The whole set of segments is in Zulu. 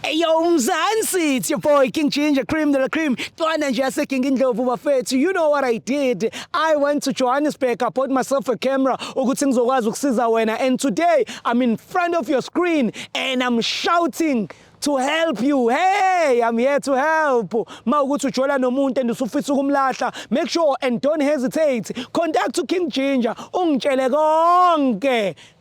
Eyo Mzansi, it's your boy King Ginger, cream de la cream. Twana nje yase King Indlovu bafethu. You know what I did? I went to Johannesburg, I bought myself a camera ukuthi ngizokwazi ukusiza wena and today I'm in front of your screen and I'm shouting to help you hey i'm here to help ma ukuthi ujola nomuntu and usufisa ukumlahla make sure and don't hesitate contact to king ginger ungitshele konke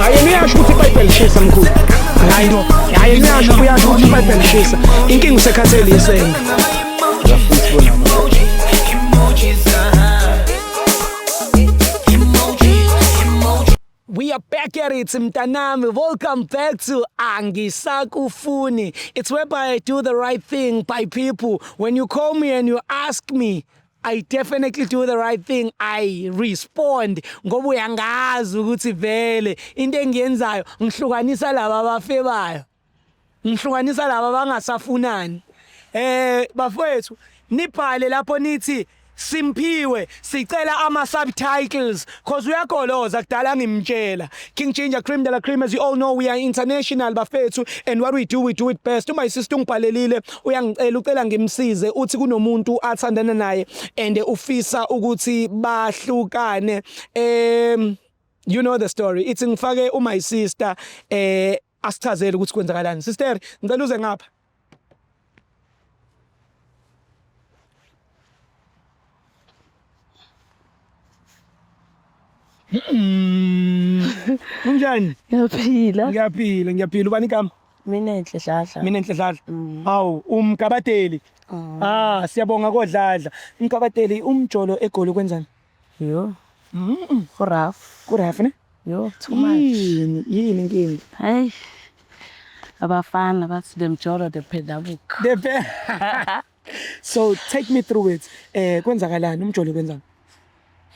hayi niyasho ukuthi ibhayibheli lishisa mkhulu hayi no hayi niyasho uyasho ukuthi ibhayibheli lishisa inkinga usekhathele yisena are back at it, Mtanami. Welcome back to Angisakufuni. It's whereby I do the right thing by people. When you call me and you ask me, I definitely do the right thing I respond ngoba uyangazi ukuthi vele into engiyenzayo ngihlukanisa laba abafebayo ngihlukanisa laba abangasafunani eh bafowethu nibhale lapho nithi simphiwe sicela ama subtitles Cause uyagoloza kudala ngimtshela King Ginger Cream de la Cream as you all know we are international bafethu and what we do we do it best my sister ungibhalelile uyangicela ucela ngimsize uthi kunomuntu athandana naye and ufisa ukuthi bahlukane um you know the story ithi ngifake u my sister eh Asichazele ukuthi kwenzakalani. Sister, ngicela uze ngapha. Unjani? Ngiyaphila. Ngiyaphila, ngiyaphila. Ubani igama? Mina Enhle Dladla. Mina Enhle Dladla. Mm. Hawu, umkabateli. Ah, ah siyabonga kodladla. Umkabateli umjolo egoli kwenzani? Yo. Mm. Ku rough. Ku rough ne? Yo, too much. Yini, yini inkinga? Hey. Abafana bathi the mjolo the pedabuko. The pe. so take me through it. Eh kwenzakalani umjolo kwenzani?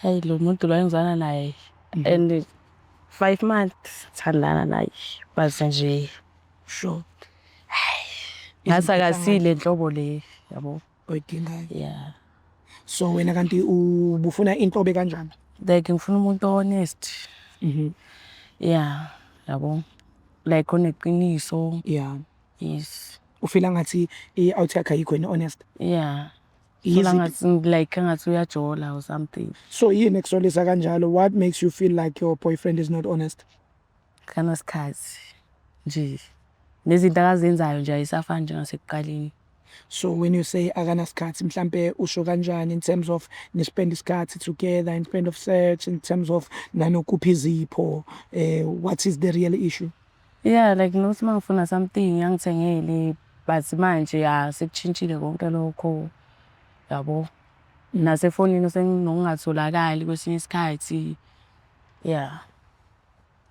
Hey lo muntu lo engizana naye. Mhm. And 5 months thandana naye. Baze nje. Sure. Ngathi akasile nhlobo le yabo. oyidingayo yeah so wena kanti ubufuna inhlobe kanjani like ngifuna umuntu honest mhm yeah yabo like oneqiniso yeah yes ufila ngathi i-out yakhe ayikho yini honest yeah Feel ngathi like ngathi uyajola or something so yini ekusolisa kanjalo what makes you feel like your boyfriend is not honest Akanasikhathi nje. Nezinto akazenzayo nje ayisafani njengasekuqaleni. So when you say akanasikhathi mhlampe usho kanjani in terms of ni spend isikhathi together in terms of sex in terms of nanokuphi izipho eh what is the real issue? Yeah like nokuthi mangifuna something angithengele but manje ya sekuchintshile konke lokho yabo. Nasefonini usenokungatholakali kwesinye isikhathi. Yeah.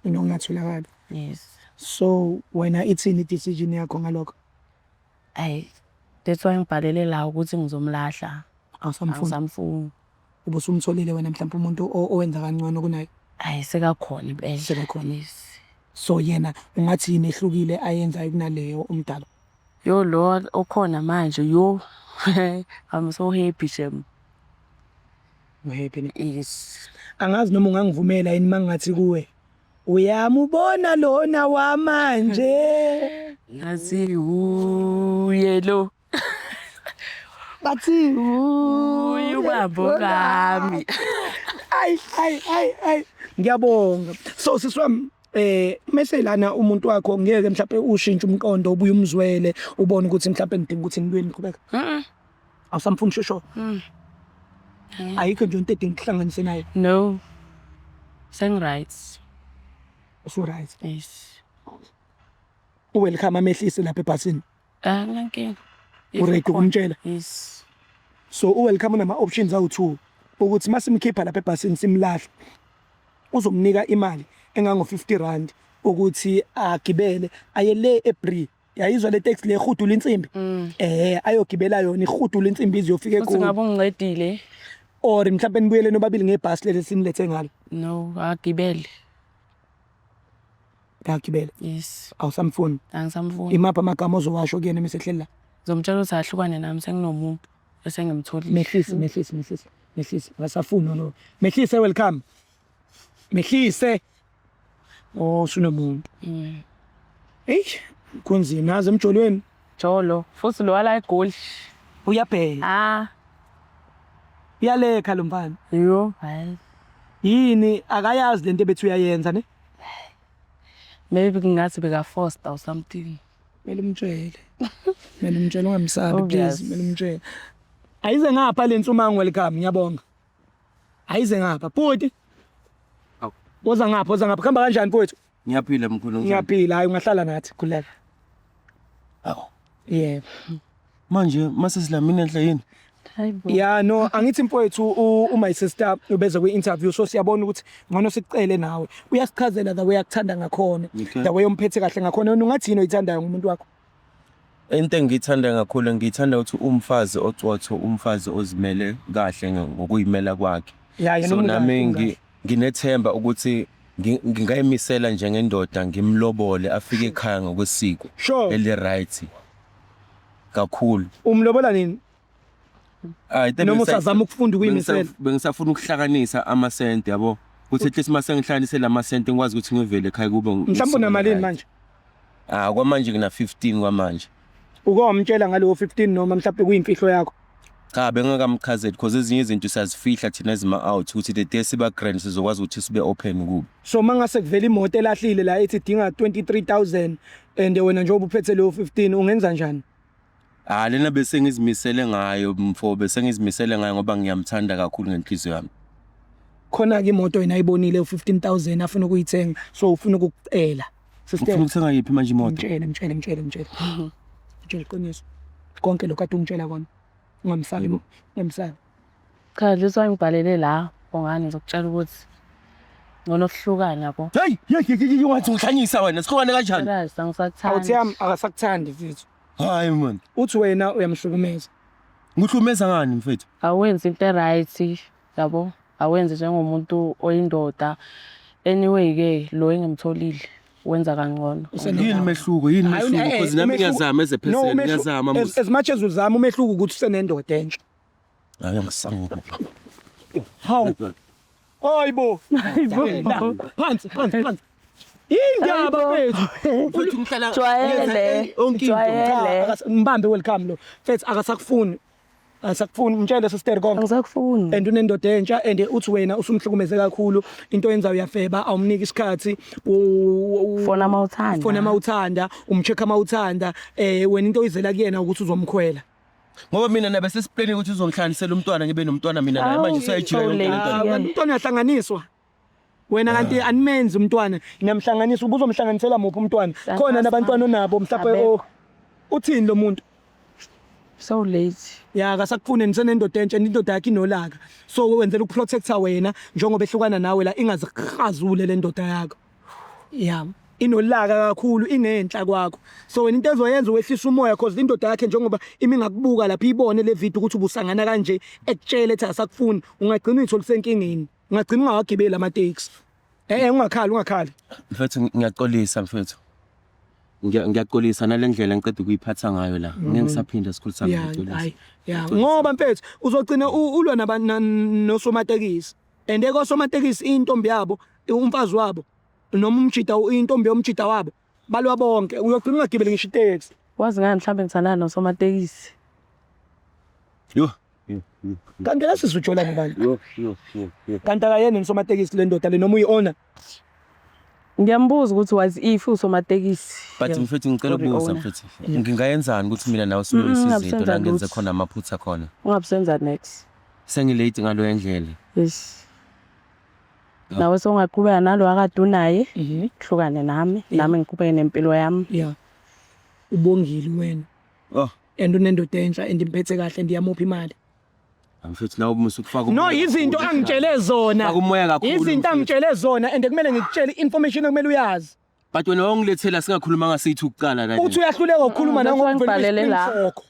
mina ungatholakali yes so wena ithini decision yakho ngalokho ayi that's why ngibhalele la ukuthi ngizomlahla awusamfuni awusamfuni ubusumtholile wena mhlawumbe umuntu owenza kangcono kunaye ayi sekakhona impela sekakhona yes so yena ungathi yini ehlukile ayenzayo kunaleyo umdala yo lo okhona manje yo i'm so happy shem Uhappy ne? Yes. Angazi noma ungangivumela yini mangathi kuwe. Uyamubona lona wamanje. Ngathi uye lo. Bathi uye ubabo bami. Ay ay ay ay. Ngiyabonga. So siswami eh mase lana umuntu wakho ngeke mhlawumbe ushintshe umqondo ubuye umzwele ubone ukuthi mhlawumbe ngidinga ukuthi ngibuyeni ngiqhubeka. Mhm. awusamfuni shosho Mm. Angeke. ayikho nje into edinga ukuhlanganise naye No. Sengiright. usuright Yes. uwelcome amehlise lapha ebhasini Ah, nginankinga. If uready ukhona. ukumtshela Yes. so uwelcome unama-options awu-two ukuthi uma simkhipha lapha ebhasini simlahle uzomnika imali engango-fifty rand ukuthi agibele aye le ebri yayizwa le taxi le ihudula insimbi eh ayogibela yona ihudula insimbi ize yofike Futhi kuyo ngabe ungincedile. or mhlawumbe nibuyele nobabili ngebhasi leli sinilethe ngalo No, agibele. ngagibela Yes. awusamfuni Angisamfuni. imaphi amagama ozowasho kuyena uma esehleli la Ngizomtshela ukuthi ahlukane nami senginomuntu esengimtholile. mehlisi mehlisi mehlisi mehlisi ngasafuni lo mehlisi welcome Mehlise. Oh, sunomuntu. Mm. Hey, kunzima aze emjolweni. Jolo, futhi lo wala egoli. Uyabheka. Ah. Uyalekha lo mfana. Yho, hayi. Yini akayazi lento bethu uyayenza ne? Maybe kungathi beka foster or something. Mele umtshele. Mele umtshele ungamsabi please, mele umtshele. Ayize ngapha lensumango welcome, ngiyabonga. Ayize ngapha bhuti. Awu. Boza ngapha, boza ngapha. Kuhamba kanjani mfowethu? Ngiyaphila mkhulu ngizwa. Ngiyaphila, hayi ungahlala nathi khuleka. Awu. Yebo. Manje mase silamini enhle yini? Hayibo. Ya no, angithi mfowethu u- u my sister ubeze kwi interview so siyabona ukuthi ngcono sikucele nawe. Uyasichazela the way akuthanda ngakhona. Okay. The way omphethe kahle ngakhona. Wena ungathini oyithandayo ngomuntu wakho? Into engiyithanda kakhulu ngiyithanda ukuthi uwumfazi ocotho, umfazi ozimele kahle ngokuyimela kwakhe. Ya, yena So umkahle, nami ngi- umkahle. nginethemba ukuthi ngi- ngingayimisela njengendoda ngimlobole afike ekhaya ngokwesiko Sure. eli-right kakhulu. Umlobola nini? Hayi tebe noma usazama ukufunda ukuyimisela. Bengisafuna ukuhlakanisa ama cent yabo. Kuthi at least mase ngihlanganise lama cent ngikwazi ukuthi ngivele ekhaya kube mhlawumbe unamalini manje? Ah kwamanje ngina 15 kwamanje. Uke wamtshela ngalowo 15 noma mhlawumbe kuyimfihlo yakho? Cha bengakamchazeli because ezinye izinto siyazifihla thina ezima out ukuthi the day siba grand sizokwazi ukuthi sibe open kubo. So mangase kuvela imoto elahlile la ethi dinga 23000 and wena njengoba uphethe leyo 15 ungenza njani? Ah lena bese ngizimisele ngayo mfo bese ngizimisele ngayo ngoba ngiyamthanda kakhulu ngenhliziyo yami. Khona ke imoto yena ayibonile u15000 afuna ukuyithenga so ufuna ukucela. Sister Ufuna ukuthenga yiphi manje imoto? mtshele mtshele mtshele mtshele. Mtshele iqiniso. Konke lokho ade ungitshela kona. Ungamsabi ungamsabi. Cha nje usangibhalele la Bongani ngizokutshela ukuthi ngcono kuhlukane yabo. Hey, hey, hey, hey, wathi uhlanyisa wena sihlukane kanjani? Kazi Awuthi angisakuthandi. yami akasakuthandi mfethu. Hayi man. Uthi wena uyamhlukumeza. Ngihlukumeza ngani mfethu? Awenzi into eright yabo. Awenzi njengomuntu oyindoda. Anyway ke lo engimtholile wenza kangcono. Usene- Yini mehluko? Yini Hayi, mehluko? eh, eh, Because nami umehluko- ngiyazama as a No, person, umehlu- ngiyazama as, mos. as much as uzama umehluko ukuthi usenendoda entsha. Ngake ngisangula. Hawu. Hayibo. Phansi, phansi, phansi. Indaba mfethu. Mfethu ngihlala jwayele. Jwayele. Ngibambe welcome lo. Mfethu akasakufuni. Asakufuni mtshele sister konke. Angisakufuni. And unendoda entsha and uthi wena usumhlukumeze kakhulu into yenza uyafeba awumniki isikhathi ufona amawuthanda. Ufona amawuthanda, umcheck amawuthanda eh wena into oyizela kuyena ukuthi uzomkhwela. ngoba mina nabe sesiplane ukuthi uzongihlanganisela umntwana ngibe nomntwana mina naye manje usayijika yonke le nto le. umntwana uyahlanganiswa wena kanti animenzi umntwana niyamhlanganisa ubuzomhlanganisela muphi umntwana khona nabantwana onabo mhlawumbe o uthini lo muntu so late ya kasakufune nisenendoda entsha indoda yakhe inolaka so wenzela ukuprotecta wena njengoba ehlukana nawe la ingazihazule le ndoda yakho yami inolaka kakhulu ingenhla kwakho so wena into ezoyenza wehlisa umoya cause lindoda yakhe njengoba imi ngakubuka lapha ibone le video ukuthi ubusangana kanje ekutshele ethi asakufuni ungagcina uyithola usenkingeni ungagcina ungawagibeli ama-taxi eh, eh ungakhali ungakhali mfethu ngiyaxolisa mfethu ngiyaxolisa nale ndlela ngiqeda ukuyiphatha ngayo la mhm. ngeke ngisaphinde sikhulu sami ngiyaxolisa ngoba mfethu uzogcina ulwa nosomatekisi and ekosomatekisi intombi yabo umfazi wabo noma umjida intombi yomjida wabo balwa bonke uyogcina ungagibeli ngisho iteksi wazi ngani mhlawumbe ngithandana nosomatekisi yho kanti lesizujolani bantu kanti akayena ngisomatekisi le ndoda le noma uyi-owner Ngiyambuza ukuthi was if usomatekisi. But Yebo. mfethu ngicela Sorry, ukubuza owner. mfethu. Yeah. Ngingayenzani ukuthi mina nawe sibe Mm, isizinto ngabusenza la ngenze lutho. khona amaphutha khona. Ungabusenza next. Sengilate ngaloya ndlela. Yes. Yeah. Nawe songaqhubeka nalo akade unaye, Mhm. hlukane nami, Yeah. nami ngiqhubeke nempilo yami. Yeah. Ubongile wena. Oh. And unendoda entsha and imphethe kahle and iyamupha imali. Mfethu nawe musa ukufaka No izinto angitshele zona. Faka umoya kakhulu, Izinto mfethu. angitshele zona and kumele ngikutshele information okumele uyazi. But wena wawungilethela singakhuluma ngasithi ukuqala kanje. Uthi uyahluleka ukukhuluma Mm, nawe that's why ngoba ngibhalele la. isiphinsokho.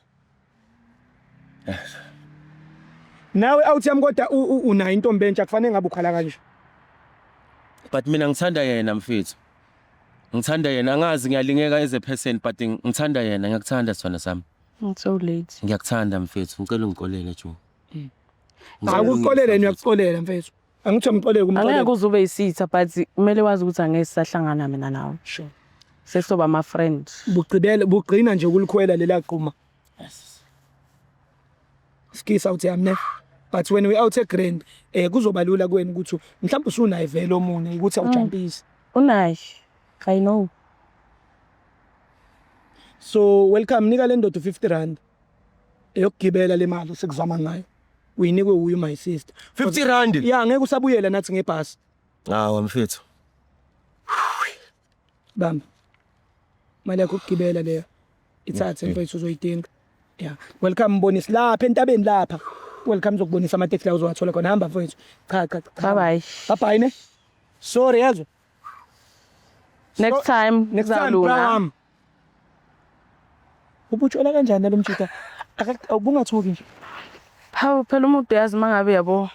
Nawe awuthi yami kodwa u- u- unayo intombi entsha kufanele ngabe ukhala kanje. But mina ngithanda yena mfethu. Ngithanda yena angazi ngiyalingeka as a person but ngithanda yena ngiyakuthanda sona sami. It's so late. Ngiyakuthanda mfethu, ngicela ungikolele jo. Akuxolela yena uyakuxolela mfethu. Angithiwa mxolele Angeke kumxolela. uze ube isitha but kumele wazi ukuthi angeke sisahlangana mina nawe. Sure. Sesizoba ama friend. Bugcibele bugcina nje ukulikhwela lela quma. Skisa uthi amne. But when we out e grand eh kuzoba lula kuwena ukuthi mhlawumbe usunaye vele omunye ukuthi awujampisi. Unaye. I know. so welcome nika le ndoda u-50 rand eyokugibela le mali sikuzama ngayo uyinikwe wuye my sister 50 rand ya ngeke usabuyela nathi ngebhasi hawa mfethu bamba imali yakho ukugibela leyo ithathe mm, mfethu uzoyidinga ya welcome mbonisi lapha entabeni lapha welcome zokubonisa ama-taxi la uzowathola khona hamba mfowethu cha cha cha bye bye bye bye ne sorry yezwa Next time Next time kuzalunga. bram. Ubutshwala kanjani lo mjita? Aka- Ubungathuki nje. Hawu phela umuntu uyazi uma ngabe yabo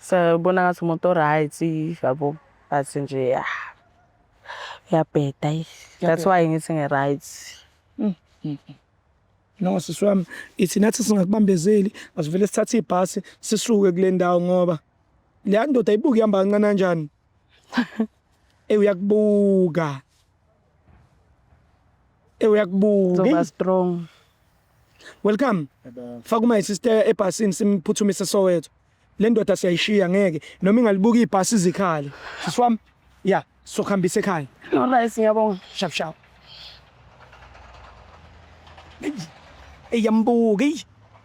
sabona ngathi umuntu o-right yabo athi nje ya uyabheda yi. That's Uyabheda. why ngithi ngi-right. No sisi wami ithi nathi singakubambezeli asivele sithathe ibhasi sisuke kule ndawo ngoba le ndoda ibuke ihamba kancane kanjani Ey uyakubuka. Ey uyakubuka. Zoba strong. Welcome. Faka uma sister ebhasini simphuthumise Soweto. Le ndoda siyayishiya ngeke noma ingalibuka ibhasi izikhali. Sisi wami. Yeah, sokuhambisa ekhaya. No rice ngiyabonga. Shap shap. Ey yambuka.